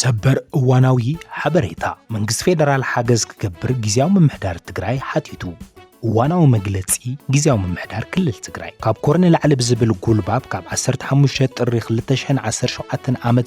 ሰበር እዋናዊ ሓበሬታ መንግስቲ ፌደራል ሓገዝ ክገብር ግዜያዊ ምምሕዳር ትግራይ ሓቲቱ እዋናዊ መግለፂ ግዜያዊ ምምሕዳር ክልል ትግራይ ካብ ኮር ንላዕሊ ብዝብል ጉልባብ ካብ 15 ጥሪ 2017 ዓ ም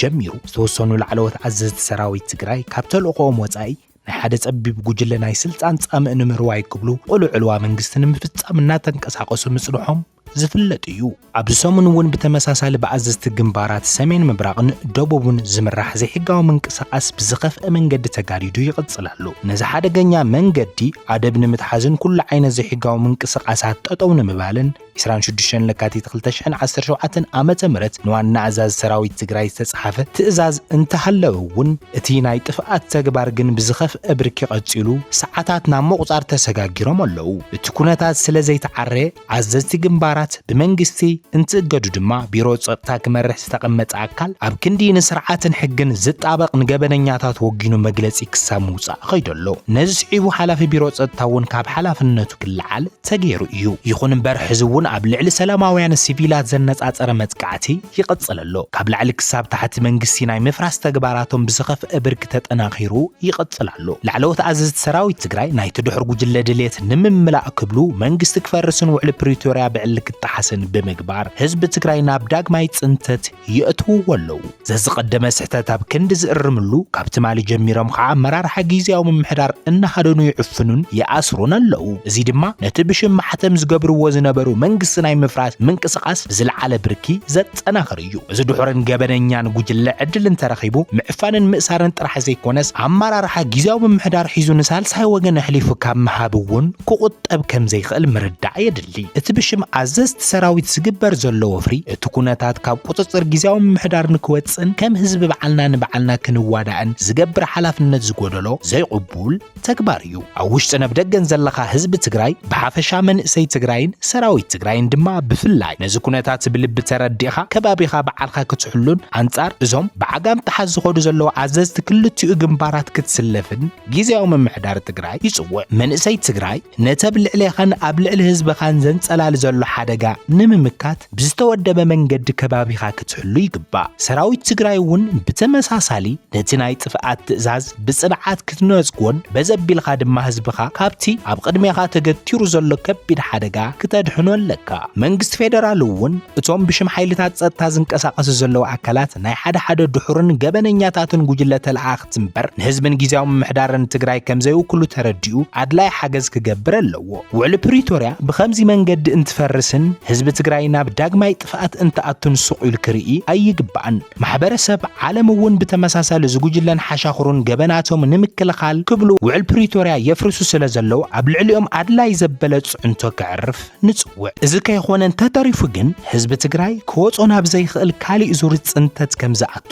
ጀሚሩ ዝተወሰኑ ላዕለዎት ኣዘዝቲ ሰራዊት ትግራይ ካብ ተልእኾኦም ወፃኢ ናይ ሓደ ጸቢብ ጉጅለ ናይ ስልጣን ጻምእ ንምርዋይ ክብሉ ቅሉዕ ዕልዋ መንግስቲ ንምፍጻም እናተንቀሳቐሱ ምጽንሖም ዝፍለጥ እዩ። ኣብዚ ሰሙን እውን ብተመሳሳሊ ብኣዘዝቲ ግንባራት ሰሜን ምብራቕን ደቡብን ዝምራሕ ዘይሕጋዊ ምንቅስቓስ ብዝኸፍኤ መንገዲ ተጋዲዱ ይቕጽል ኣሎ። ነዚ ሓደገኛ መንገዲ ኣደብ ንምትሓዝን ኩሉ ዓይነት ዘይሕጋዊ ምንቅስቓሳት ጠጠው ንምባልን፣ ዕስራን ሽዱሽተን ለካቲት ክልተ ሽሕን ዓሰርተ ሸውዓተን ዓመተ ምህረት ንዋና ኣዛዚ ሰራዊት ትግራይ ዝተጻሓፈ ትእዛዝ እንተሃለወ እውን እቲ ናይ ጥፍኣት ተግባር ግን ብዝኸፍአ ብርኪ ቀጺሉ ሰዓታት ናብ ምቑጻር ተሰጋጊሮም ኣለዉ። እቲ ኩነታት ስለ ዘይተዓረ ኣዘዝቲ ግንባራት ብመንግስቲ እንትእገዱ ድማ ቢሮ ጸጥታ ክመርሕ ዝተቐመጠ ኣካል ኣብ ክንዲ ንስርዓትን ሕግን ዝጣበቕ ንገበነኛታት ወጊኑ መግለጺ ክሳብ ምውጻእ ከይዱ ኣሎ። ነዚ ስዒቡ ሓላፊ ቢሮ ጸጥታ እውን ካብ ሓላፍነቱ ክለዓል ተገይሩ እዩ። ይኹን እምበር ሕዚ እውን ኣብ ልዕሊ ሰላማውያን ሲቪላት ዘነጻጸረ መጥቃዕቲ ይቕጽል ኣሎ። ካብ ላዕሊ ክሳብ ታሕቲ መንግስቲ ናይ ምፍራስ ተግባራቶም ብዝኸፍኣ ብርኪ ተጠናኺሩ ይቕጽል ኣሎ። ላዕለዎት ኣዘዝቲ ሰራዊት ትግራይ ናይቲ ድሑር ጉጅለ ድሌት ንምምላእ ክብሉ መንግስቲ ክፈርስን ውዕሊ ፕሪቶርያ ብዕሊ ክጠሓስን ብምግባር ህዝቢ ትግራይ ናብ ዳግማይ ፅንተት የእትውዎ ኣለው። ዘዝቐደመ ስሕተት ኣብ ክንዲ ዝእርምሉ ካብ ትማሊ ጀሚሮም ኸዓ ኣመራርሓ ጊዚያዊ ምምሕዳር እናሃደኑ ይዕፍኑን ይኣስሩን ኣለው። እዚ ድማ ነቲ ብሽም ማሕተም ዝገብርዎ ዝነበሩ መንግስቲ ናይ ምፍራስ ምንቅስቓስ ብዝለዓለ ብርኪ ዘጠናኽር እዩ። እዚ ድሑርን ገበነኛን ጉጅለ ዕድል እንተረኺቡ ምዕፋንን ምእሳርን ጥራሕ ዘይኮነስ ኣመራርሓ ጊዚያዊ ምምሕዳር ሒዙ ንሳልሳይ ወገን ኣሕሊፉ ካብ ምሃብ እውን ክቑጠብ ከምዘይኽእል ምርዳእ የድሊ። ይኣሊ። እቲ ብሽም ኣዘዝቲ ሰራዊት ዝግበር ዘሎ ወፍሪ እቲ ኩነታት ካብ ቁጽጽር ግዝያዊ ምምሕዳር ንክወጽእን ከም ህዝቢ ባዕልና ንባዕልና ክንዋዳእን ዝገብር ሓላፍነት ዝጎደሎ ዘይቕቡል ተግባር እዩ። ኣብ ውሽጥን ኣብ ደገን ዘለኻ ህዝቢ ትግራይ ብሓፈሻ መንእሰይ ትግራይን ሰራዊት ትግራይን ድማ ብፍላይ ነዚ ኩነታት ብልቢ ተረዲእኻ ከባቢኻ ባዕልካ ክትሕሉን ኣንጻር እዞም ብዓጋም ጥሓስ ዝኸዱ ዘለዉ ኣዘዝቲ ክልቲኡ ግንባራት ክትስለፍን ግዝያዊ ምምሕዳር ትግራይ ይጽውዕ። መንእሰይ ትግራይ ነቲ ኣብ ልዕሌኻን ኣብ ልዕሊ ህዝብኻን ዘንጸላሊ ዘሎ ሓደጋ ንምምካት ብዝተወደበ መንገዲ ከባቢኻ ክትሕሉ ይግባእ። ሰራዊት ትግራይ እውን ብተመሳሳሊ ነቲ ናይ ጥፍኣት ትእዛዝ ብጽንዓት ክትነጽጎን በዚ ኣቢልካ ድማ ህዝብኻ ካብቲ ኣብ ቅድሜኻ ተገቲሩ ዘሎ ከቢድ ሓደጋ ክተድሕኖ ኣለካ። መንግስቲ ፌደራል እውን እቶም ብሽም ሓይልታት ጸጥታ ዝንቀሳቐሱ ዘለዉ ኣካላት ናይ ሓደ ሓደ ድሑርን ገበነኛታትን ጉጅለ ተለኣኣኽቲ መንግስቲ እምበር ንህዝብን ግዝያዊ ምምሕዳርን ትግራይ ከምዘይውክሉ ተረዲኡ ኣድላይ ሓገዝ ክገብር ኣለዎ። ውዕሊ ፕሪቶርያ ብኸምዚ መንገዲ እንትፈርስን ህዝቢ ትግራይ ናብ ዳግማይ ጥፍኣት እንትኣቱን ሱቕ ኢሉ ክርኢ ኣይግባእን። ማሕበረሰብ ዓለም እውን ብተመሳሳሊ እዚ ጉጅለን ሓሻኽሩን ገበናቶም ንምክልኻል ክብሉ ውዕል ፕሪቶርያ የፍርሱ ስለዘለዉ ኣብ ልዕሊኦም ኣድላይ ዘበለ ፅዕንቶ ከዕርፍ ንፅውዕ። እዚ ከይኾነ እንተተሪፉ ግን ህዝቢ ትግራይ ክወፆ ናብ ዘይኽእል ካሊእ ዙር ፅንተት ከምዝኣቱ